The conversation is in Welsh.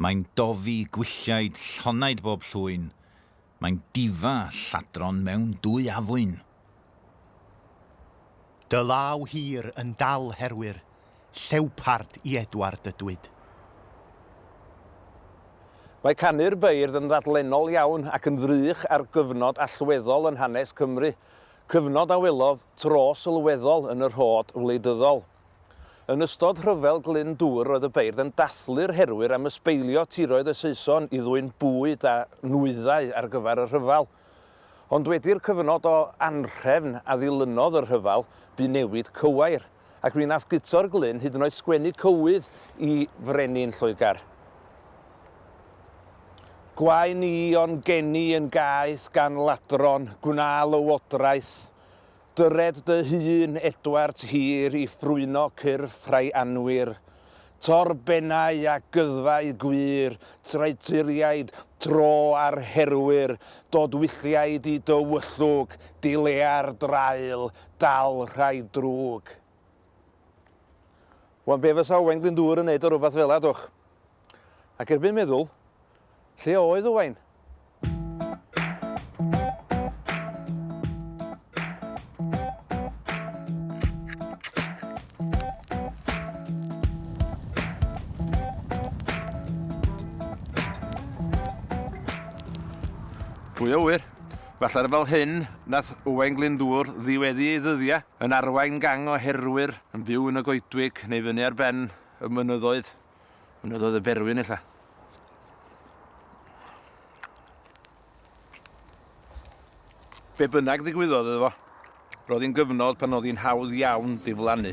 Mae'n dofi gwylliaid llonaid bob llwyn, mae'n difa lladron mewn dwy afwyn. Dy law hir yn dal herwyr llewpard i Edward y Dwyd. Mae canu'r beirdd yn ddadlennol iawn ac yn ddrych ar gyfnod allweddol yn hanes Cymru, cyfnod a welodd tro sylweddol yn y rhod wleidyddol. Yn ystod Rhyfel Glyn Dŵr roedd y beirdd yn dathlu'r herwyr am ysbeilio tiroedd y Saeson i ddwyn bwyd a nwyddau ar gyfer y rhyfel. Ond wedi'r cyfnod o anhrefn a ddilynodd y rhyfel, bu newid cywair, ac mi nath Guto'r Glyn hyd yn oed sgwennu cywydd i frenin Lloegr. Gwae ni o'n geni yn gaeth gan ladron, gwna lywodraeth, Dyred dy hun, Edward Hir, i ffrwyno cyrff rhai anwir. Tor bennau a gyddfau gwir, traeturiaid, tro ar herwyr, dod wylliaid i dy wyllwg, dilea'r draul, dal rhai drwg. Wan be fysa Owain Glyndŵr yn neud ar rwbath fela dwch? Ac erbyn meddwl, lle oedd Owain? Pwy a ŵyr? Falle fel hyn, nath Owain Glyndŵr ddiweddu ei ddyddiau yn arwain gang o herwyr yn byw yn y goedwig neu fyny ar ben y mynyddoedd. Ond oedd oedd y berwyn illa. Be bynnag ddigwyddodd iddo fo, roedd hi'n gyfnod pan oedd hi'n hawdd iawn diflannu.